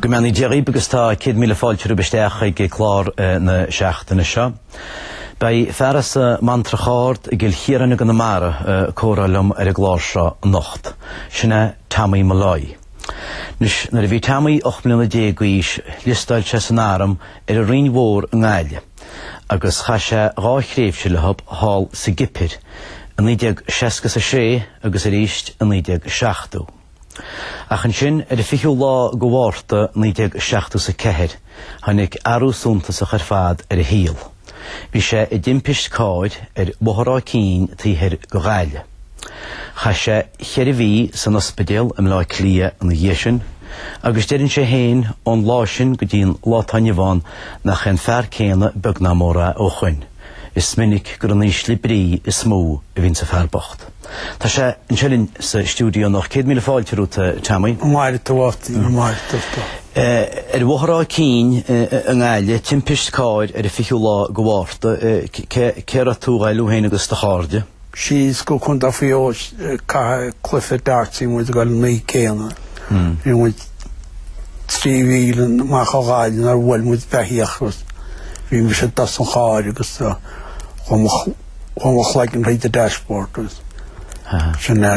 Go mbeannaí Dia dhaoibh agus tá céad míle fáilte romhaibh isteach chuig clár eh, na seachtaine seo. Beidh fear as an mBantrach Ard i gCill Chiaráin i gConamara ag comhrá liom ar an gclár seo anocht. Sin é Tommy Molloy. Anois nuair a bhí Tommy 18 mbliana d'aois, liostáil sé san arm ar an Rinn Mhór i nGaillimh. agus chaith sé dhá thréimhse leothub thall sa gCipir i 1966 agus arís i 1970. Ach ansin, ar an 20ú lá de Mhárta 1974, tháinig athrú suntasach ar fad ar a shaol. Bhí sé i dtimpist cairr ar Bhóthar Áth Cinn taobh thoir de Ghaillimh. Chaith sé cheithre mhí san ospidéal i mBleá Cliath ina dhiaidh sin agus deireann sé féin ón lá sin go dtí an lá atá inniu ann nach é an fear céanna beag ná mór é ó shoin. Is minic gur in ísle brí is mó a bhíonn sa fear bocht. Tá sé anseo linn sa stiúideo anocht. Céad míle fáilte romhat a Tommy. Go maire tú a Mháirtín, go maire tú. Ar bhóthar Áth Cinn i nGaillimh, timpist cairr ar an fichiú lá de Mhárta. Cé raibh tú ag dul thú féin agus do chairde? síos go Contae Mhaigh Eo ag caitheamh cluiche darts a bhí muid ag dul an oíche céanna. Bhí muid trí mhíle amach ó Ghaillimh nuair a bhuail muid beithíoch agus bhí mise i dtosach an chairr agus chuaigh mo chuaigh mo chloigeann thríd an dashboard agus sin é.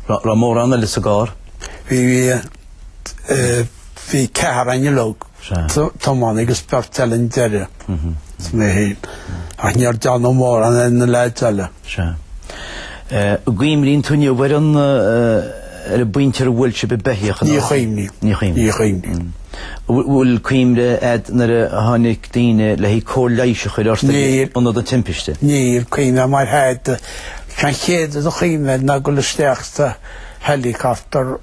Raibh mórán eile sa gcarr? Bhí bhí bhí ceathrar againn uilig. tiománaí agus beirt eile chun deiridh, is mé féin, ach níor déanadh mórán ar na leaids eile. An gcuimhníonn tú inniu ar an ar an bpointe ar bhuail sibh an beithíoch an uair sin? Ní chuimhním, ní chuimhním. Bhfuil cuimhne a'd nuair a tháinig daoine le haghaidh cóir leighis a chur ort ag ionad an timpiste? Níl cuimhne a'm ar thada. An chéad rud a chuimhním ná ag dul isteach sa helicopter.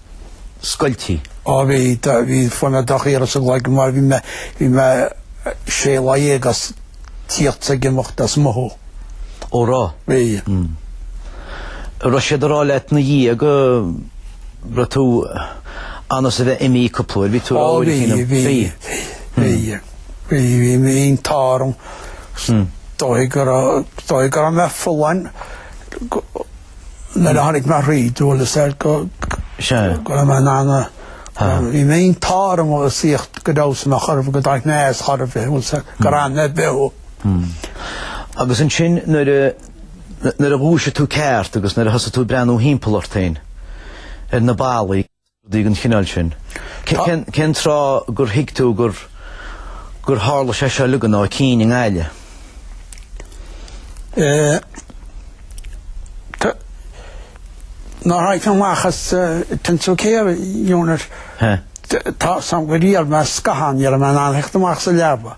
scoiltí. Ó bhí bhí fuaim ar do shaoire sa gcloigeann mar bhí mé bhí mé sé lá dhéag ag tíocht is ag imeacht as mothú. Ó raibh. Bhí. Raibh siad ag rá leat ina dhiaidh go raibh tú ionann is a bheith imithe cúpla uair bhí tú a rá uair cinn am. Bhí. Bhí. Bhí bhí an t-ádh orm. Dóigh go raibh dóigh go raibh mé folláin go Nuair a tháinig mé thríd dualgas air go raibh mé in ann bhí mé an t-ádh orm a saíocht go deo san a chur go dtáinig mé as chor ar bith bhfuil a fhios a'd go raibh mé beo. Agus ansin nuair a nuair a dhúisigh tú ceart agus nuair a thosaigh tú ag breathnú thimpeall ort féin ar na ballaí. rudaí den chineál sin. Cén tráth gur thuig tú gur gur tharla sé seo uilig ann ó chinn i nGaillimh? Nuair a tháinig mé amach as intensive care unit. Tá's agam gur iarr mé scáthán, ní raibh mé in ann a theacht amach as an leaba.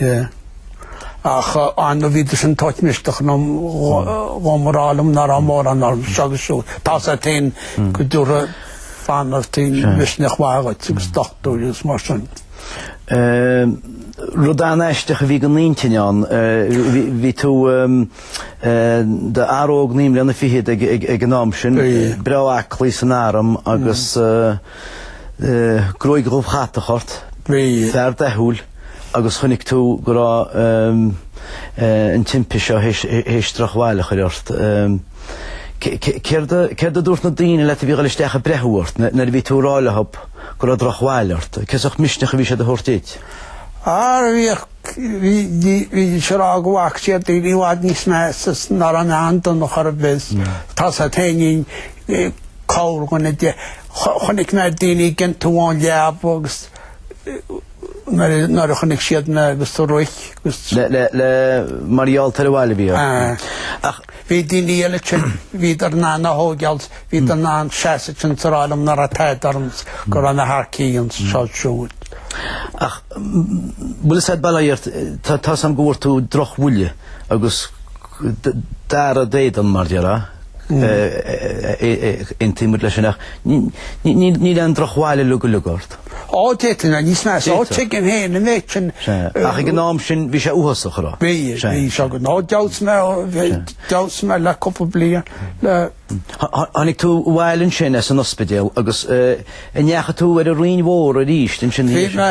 Yeah. Ach an bhíodar sin ag tabhairt misneach dhom ag rá liom ná raibh mórán orm seo agus siúd. Tá's agat féin go dtabharfadh banaltraí misneach mhaith dhuit agus dochtúirí agus mar sin. Rud an-aisteach a bhí don intinn ann. Bhí tú d'fhear óg naoi mbliana fichead ag an am sin, breá aclaí san arm agus... gruaig dhubh chatach ort, fear dathúil agus chonaic tú go raibh an timpiste seo théis drochbhail a chur ort. Céard a dúirt na daoine leat a bhí ag dul isteach ag breathnú ort nuair a bhí tú ag rá leo go raibh drochbhail ort? Cén sórt misneach a bhí siad a thabhairt duit? Bhí siad ag rá go bhfaca siad daoine i bhfad níos measa ná raibh mé an-dona ar chor ar bith. Tá's agat féin corrdhuine de. Chonaic mé daoine ag iontú ón leaba agus nuair a chonaic siad mé agus do rith agus. Le, le, le, mar gheall ar an mbail a bhí orm. Ah. Ach. Bhí daoine eile ansin, bhíodar in ann é a thógáil, bhíodar in ann seasamh ansin ag rá liom ná raibh tada orm go raibh mé thar cionn is seo siúd. Ach bhfuil a fhios agat, bhuel, tá, tá's agam go bhfuair tú drochbhuille agus gearradh d'éadan mar a déarfá. Aontaíonn muid leis sin ach níl aon drochbhail uilig uilig ort. Ó d'fhéadfainn a bheith níos measa. Ó tuigim féin an méid sin. Ach ag an am sin bhí sé uafásach a rá. Bhí, bhí seo go. Ó d'fheabhsaigh mé, d'fheabhsaigh mé le cúpla bliain le. Tháinig tú abhaile ansin as an ospidéal agus an ndeachaigh tú ar an Rinn Mhór arís ansin. Bhí mé,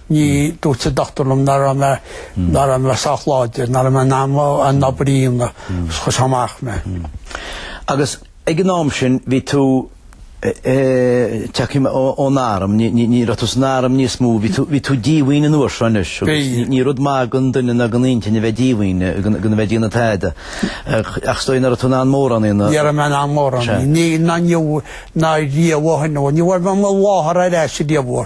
Ní dúirt an dochtúir liom ná raibh mé ná raibh mé sách láidir, ná raibh mé in ann an obair a dhéanamh, is chuir sé amach mé. Agus ag an am sin bhí tú, tiocfaidh mé ón arm, ní raibh tú san arm níos mó, bhí tú díomhaoin an uair seo anois agus ní rud maith don duine ná don intinn a bheith díomhaoin, gan a bheith ag déanamh tada. Ach 's dóigh nach raibh tú in ann mórán a dhéanamh. Ní raibh mé in ann mórán a dhéanamh, ná inniu ná riamh ó shin, no, ní bhfuair mé mo láthar ar ais riamh ó.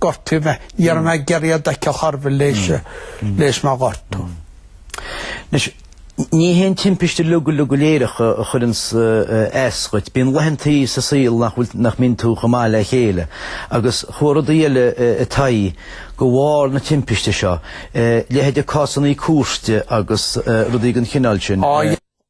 gortaíodh mé. Ní raibh mé geir iad aici ar chor ar bith leis leis mé gortú. Anois ní hé an timpiste uilig uilig go léireach a chuireanns as dhuit. Bíonn laethanta sa saol nach bhfuil nach mbíonn tú chomh maith le chéile agus chuaigh rudaí eile i t'aghaidh de bharr na timpiste seo, leithéide cásannaí cúirte agus rudaí den chineál sin.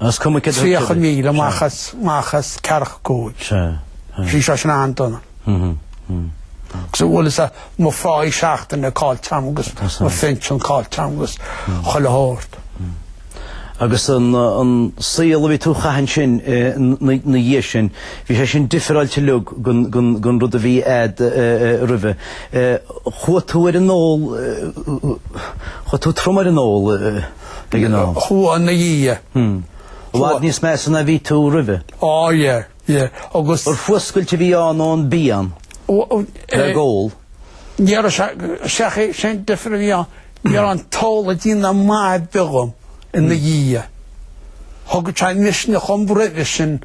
30 míle amach as, amach as Carrach Cúil. Sea. Sea. Bhí sé sin an-dona. Agus, bhuel, sa, mo pháí seachtaine caillte agam, mo phinsean caillte agam, chuile shórt. Agus an, an saol a bhí tú a chaitheamh ansin i, na, na dhiaidh sin, bhí sé sin difreáilte uilig gon, gon, gon rud a bhí a'd roimhe. Chuaigh tú ar an ól, chuaigh tú trom ar an ól, De ghnáth. Chua, ina dhiaidh. I bhfad níos measa ná bhí tú roimhe. Á ie, ie. Agus. Ar fuascailt a bhí ann ón bpian. Le gabháil ag ól. Níorbh ea ach é sin difir a bhí ann. Níor fhan tolerance ar bith agam ina dhiaidh. Thug sé misneach dhom roimhe sin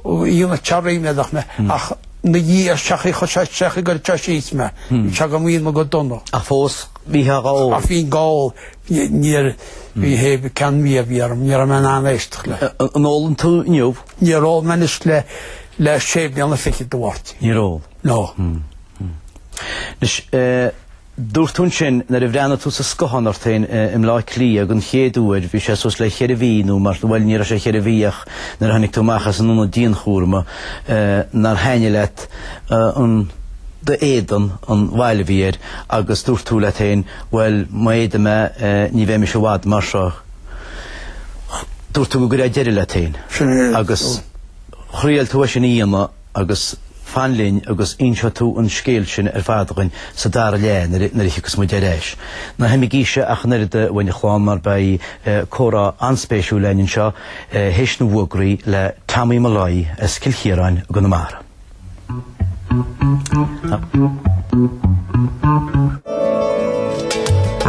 í na tharraingeodh mé ach na dhiaidh ar seach í chuir sé seach ag goil síos mé. Bhí sé go mbínn go dona. Ach fós bhí tú ag ól. Ach bhínn ag ól. Níorbh é an ceann a bhí a bhí orm. Ní raibh mé in ann éisteacht le. An ólann tú inniu? Níor ól mé anois le le sé bliana fichead a Mháirtín. Níor ól? No. Anois, dúirt tú ansin nuair a bhreathnaigh tú sa scáthán ort féin i mBleá Cliath den chéad uair bhí sé suas le cheithre mhí nó mar sin, bhuel ní raibh sé cheithre mhí ach nuair a tháinig tú amach as an ionad dianchúrama nár thaithnigh leat an, d'éadan, an bhail a bhí air agus dúirt tú leat féin Bhuel, má fhéadaim é, ní bheidh mise i bhfad mar seo. Dúirt tú go gcuirfeá deireadh leat féin. Agus thriail tú é sin a dhéanamh agus fan linn agus inseoidh tú an scéal sin ar fad dhuinn sa dara leath nuair a thiocfas muid ar ais. Ná himigíse ach an oiread uainn a leáin mar beidh comhrá an-spéisiúil linn anseo théis na bhfógraí le Tommy Molloy as Cill Chiaráin i gConamara.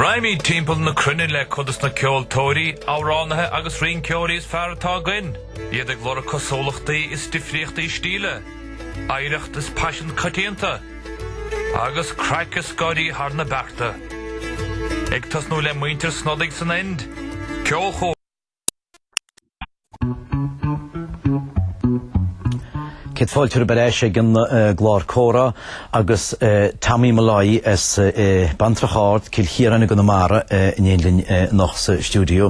Raghaimid timpeall na cruinne le cuid de na ceoltóirí, amhránaithe agus rinceoirí is fearr atá againn, iad ag lorg cosúlachtaí is difríochtaí stíle, oidhreacht is paisean coitianta, agus craic is scléip thar na bearta. Ag tosnú le muintir Snodaigh san Ind, Ceolchuairt, Céad fáilte romhaibh ar ais ag an gclár Comhrá agus Tommy Molloy as Bantrach Ard, Cill Chiaráin i gConamara in éindí linn anocht sa stiúideo.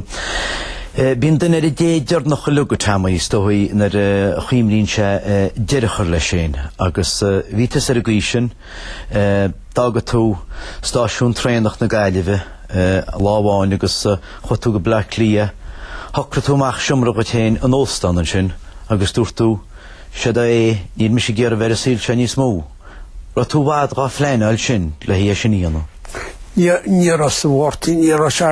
Bíonn duine ar an dé deiridh nach uiliug, a Tommy, is dóigh, nuair a chuimhníonn sé deireadh chur leis féin, agus bhí tusa ar an gcaoi sin. D'fhág tú stáisiún traenach na Gaillimhe lá amháin agus chuaigh tú go Bleá Cliath. Shocraigh tú amach seomra dhuit féin in óstán ansin agus dúirt tú, 'Siod é, níl mise ag iarraidh bheith ar an saol seo níos mó. Raibh tú i bhfad dhá phleanáil sin le hé sin a dhéanamh? Ní raibh, a Mháirtín, ní raibh sé.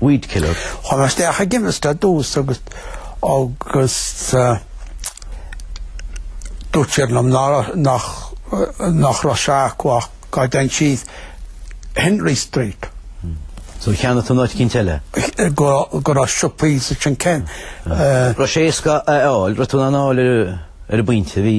weed killer. Chuaigh mé isteach i gceimist i dtús agus agus dúirt siad liom nach nach raibh sé acu ach dá dtéinn síos Henry Street. So cheannaigh tú in áit eicínt eile? Go go raibh siopaí ansin cén. Raibh sé éasca a fháil, raibh tú in ann a fháil ar ar an bpointe? Bhí.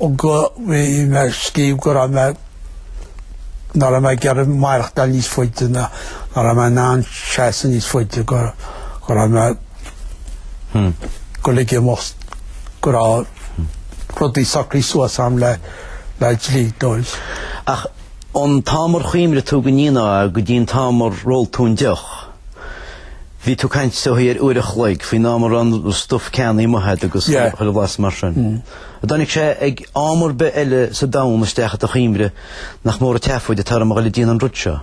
Ó bhí mé ag scríobh go raibh mé, nach raibh mé ag iarraidh maireachtáil níos faide ná nach raibh mé in ann seasamh níos faide go go raibh mé, go ligfidh an lucht go raibh rudaí socraithe suas agam le le dlíodóir. Ach ón t-am ar chuimhnigh tú go ndéanfá go dtí an t-am ar ól tú an deoch, bhí tú ag caint, is dócha ar uair a chloig, faoin am a raibh an stuif ceannaithe a'd agus chuile bhlas mar sin. Tháinig sé ag am ar bith eile sa domhan isteach i do chuimhne, nach mór an tseafóid atá orm a ghoil ag déanamh an rud seo.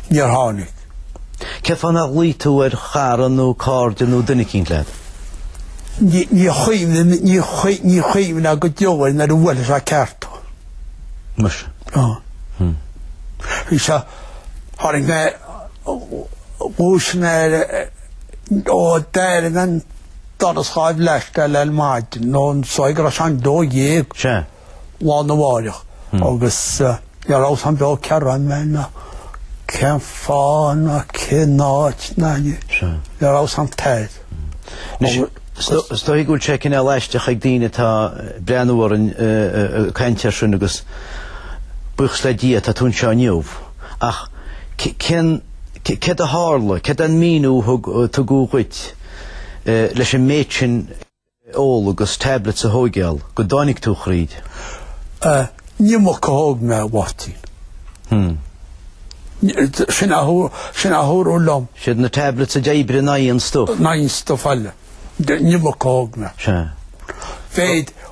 Níor tháinig. Cén fáth nár ghlaoigh tú ar chara nó cairde nó duine eicínt leat? Ní chuimhin, ní chuimhneofá go deo air nuair a bhuailfeadh sé ceart thú. Muise. Ó. Bhí sé, tháinig mé, dhúisigh mé, ó, d'éirigh an. Doras Dháimh Leaisce le maidin nó is dóigh go raibh sé an dó dhéag lá arna mháireach agus ní raibh a fhios agam beo cá raibh mé ná cén fáth ná cén áit ná ní. Ní raibh a fhios agam tada. Is dóigh go bhfuil sé cineál aisteach ag daoine atá ag breathnú orainn ag caint air sin agus buíochas le Dia tá tú anseo inniu ach cén céard a tharla, céard an míniú a thug tugadh dhuit? leis an méid sin a ól agus tablets a thóigeáil go dtáinig tú thríd? An iomarca a thóg mé, a Mháirtín. Sin a dúradh liom. Siad na tablets a d'oibrigh in aghaidh an stuif. In aghaidh an stuif eile. An iomarca a thóg mé. Sea. Bheadh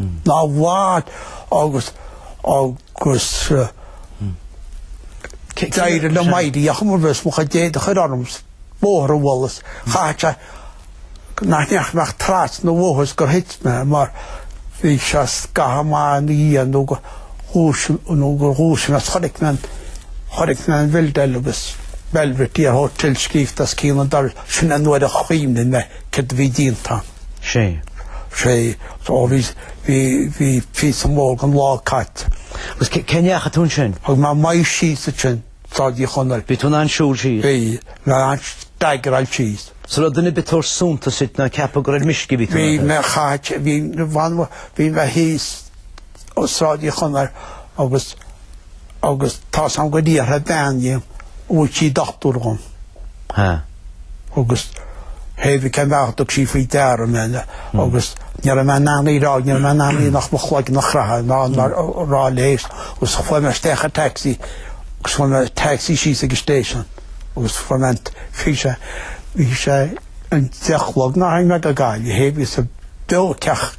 Ná bhail agus agus d'éirigh liom éirí ar chuma ar bith is mo chuid éadaigh a chur orm is an bóthar a bhualadh is caithfidh sé nach ndeachaigh mé ach trasna an bhóthair is gur thit mé mar bhí sé scaitheamh maith ina dhiaidh nó gur dhúis nó gur dhúisigh mé is chonaic mé an chonaic mé an Bhildell agus Belvedere Hotel scríofa os cionn an dorais. Sin an uair a chuimhnigh mé Céard a bhí déanta? Sea. Sea. Ó bhí, bhí, bhí píosa mór den lá caite. Agus cé, cé ndeachaigh tú ansin? Thug mé m'aghaidh síos ansin, Sráid Uí Chonaill. Bhí tú in ann siúl síos? Bhí. Bhí mé in ann staigreáil síos. Is an raibh duine ar bith ag tabhairt suntas duit ná ag ceapadh gur ar meisce a bhí tú in ann a chur? Bhí mé, chaith, bhí, bhí, bhí mé thíos. ó Sráid Uí Chonaill agus agus tá sé ann go dtí ar theith bean dhíom an bhfuil sí dochtúir dhom. Ha. agus chaoi cén bealach dtug sí faoi deara mé le agus ní raibh mé in ann í rá ní raibh mé in ann í nach mo chloigeann a chraitheadh ná ná rá léi agus chuaigh mé isteach i taxi agus fuair mé taxi síos ag an station agus fuair mé bhí sé bhí sé an deich chlog nár tháinig mé go Gaillimh thaobh is a b'eo ceacht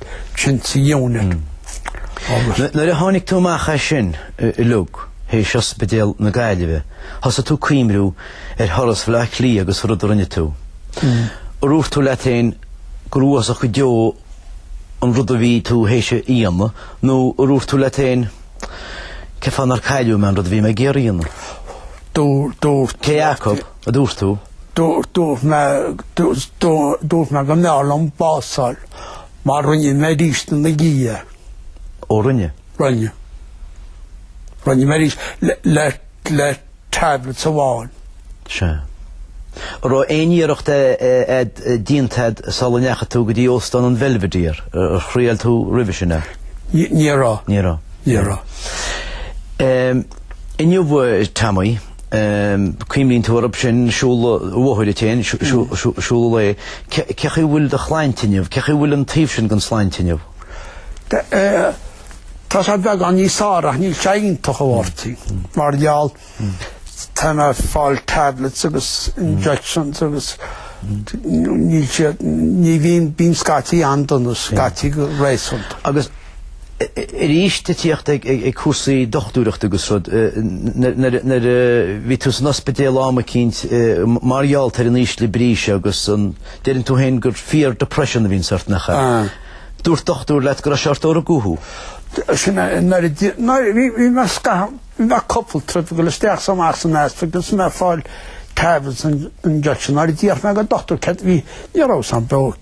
Nuair a tháinig tú amach as sin, a Lugh, théis Ospidéal na Gaillimhe, thosaigh tú cuimhniú ar thuras Bhleá Cliath agus an rud a rinne tú. Ar dhúirt tú leat féin gur uafásach go deo an rud a bhí tú théis a dhéanamh nó ar dhúirt tú leat féin cén fáth nár cailleadh mé an rud a bhí mé ag iarraidh a dhéanamh? Dúirt. Cé acu? a dúirt tú. Dúirt mé dúirt mé go mbeadh liom bás a fháil mar rinne mé arís é ina dhiaidh. Ó rinne. Rinne. Rinne mé arís le le tablets amháin. Sea. An raibh aon iarracht a'd déanta a'd sula ndeachaigh tú go dtí Óstán an Belvedere? Ar thriail tú roimhe sin ar. Ní raibh. Ní raibh. Ní raibh. Inniu Tommy. Cuimhníonn tú orthu sin siúl an bhóthair fhéin, siúla lae. Cé chaoi a bhfuil do shláinte inniu? Cé chaoi a bhfuil an taobh sin den tsláinte inniu? Tá sé beagán níos fearr ach níl sé iontach a Mháirtín. Mar gheall tá mé ag fáil tablets agus injections agus níl siad, ní bhíonn, bíonn scaití an-dona, scaití go réasúnta. Agus. arís ag tíocht ag cúrsaí dochtúireachta agus rud. Nuair a bhí tú san ospidéal am eicínt mar gheallta ar an ísle brí seo agus an deireann tú féin gur fear depression a bhíonn ort nach ea, dúirt dochtúir leat go raibh sé ort ó rugadh thú. Sin é, nuair a d'fhill, nuair, bhí, bhí mé scathach, bhí mé cupla trip, bhí go leor isteach is amach san ospidéal agus bhí mé ag fáil tablets injections. Nuair a d'fhiafraigh mé den dochtúir, céard a bhí, ní raibh a fhios agam, b'eo,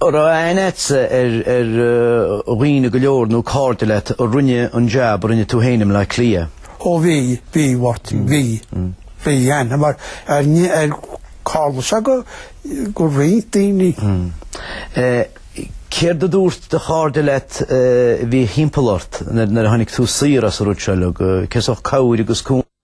raibh aithne agatsa ar dhaoine go leor nó cairde leat a rinne an jab a rinne tú féin i mBleá Cliath? Ó bhí, bhí, Mháirtín, bhí. Bhí aithne mar aithne ar Carlos agus ar roinnt daoine. Céard a dúirt do chairde leat a bhí thimpeall ort nuair a tháinig tú saor as an rud seo? Céard is mó cabhair agus cúnamh a rinne siad ort?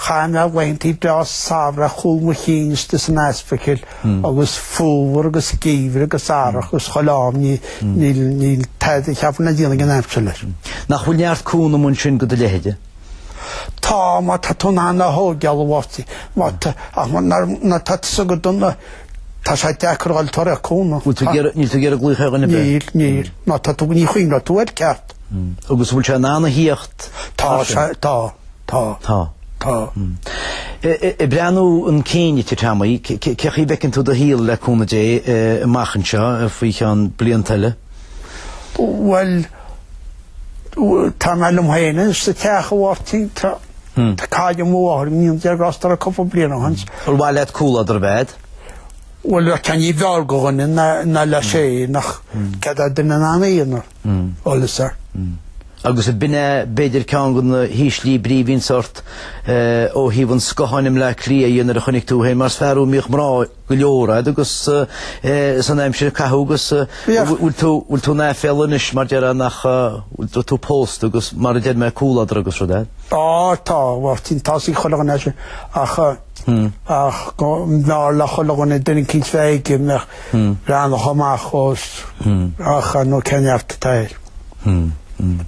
Chaith mé laethantaí breá samhraidh ar chúl mo chinn istigh san ospidéal agus fómhar agus geimhreadh agus earrach agus chuile am níl tada a cheapfainn le déanamh ag an aimsir leis. Nach bhfuil neart cúnamh ansin go do leithéide? Tá, má tá tú in ann a thógáil a Mháirtín, má tá, ach má nuair, nuair atá tú sách dona, tá sé deacair fháil tar ar cúnamh. Bhfuil tú ag iarraidh, níl tú ag iarraidh glaoch ar an Níl, níl, má tá tú ní chuimhneoidh tú air ceart. Agus bhfuil sé in ann a thíocht? Tá, tá. Tá. Tá. Tá. Ag breathnú chun cinn a Teamaí, cé chaoi a bhfeiceann tú do shaol le cúnamh Dé amach anseo faoi cheann blianta eile? Bhuel, tá mé liom féin anois sa teach a Mháirtín. Tá cailleadh mo mháthair go ndéana Dia grásta uirthi cúpla bliain ó shin. Bhuel, ar mhaith leat comhluadar a bheith a'd? Bhuel, bheadh ceann ní b'fhearr go dhuine ná leis é, nach gcead é duine ina aonar. eolas air. Agus ab in é, b'fhéidir ceann de na híslí brí a bhí ansin ort ó thaobh an scátháin i mBleá Cliath dhe nuair a chonaic tú féin mar is fear thú a mbíodh mná go leor a'd agus san aimsir a caitheadh agus bhfuil tú bhfuil tú in aiféala anois mar a déarfá nach raibh tú pósta agus mar a deir mé comhluadar agus rud a'd. Á tá, Mháirtín, tá's ag chuile dhuine é sin ach. ach go mb'fhearr le chuile dhuine duine eicínt a bheith aige a bheadh ag breathnú amach dhó ach ar ndóigh cén neart atá air.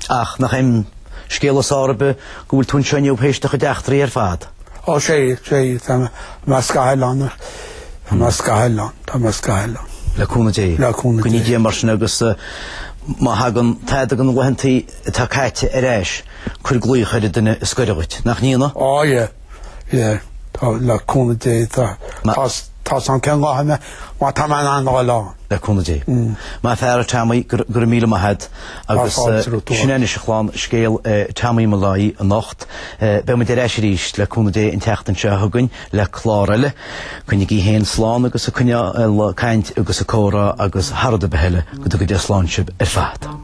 Ach nach é an scéal is fearr ar bith go bhfuil tú anseo inniu tar éis do chuid eachtraí ar fad? Ó sea, sea, tá mé as Cathail ann, tá mé as Cathail ann, tá mé as Cathail ann. Le cúnamh Dé. Le cúnamh Dé. Go gcoinní Dia mar sin agus má thagann tada de na laethantaí atá caite ar ais cuir glaoch ar an duine is gaire dhuit, nach ndéanfaidh? Ó yeah. le le cúnamh Dé tá tá tá sam ceann gá mé má tá mé in ann dháil ann. le cúnamh Dé. Maith an fear a Teamaí go go raibh míle maith agat agus sin é anois a chlann scéal Teamaí Molloy anocht beimid ar ais arís le cúnamh Dé an tseachtain seo chugainn le clár eile coinnigí féin slán agus ag coinneáil ag caint agus ag comhrá agus thar rud ar bith eile go dtuga Dia slán sibh ar fad.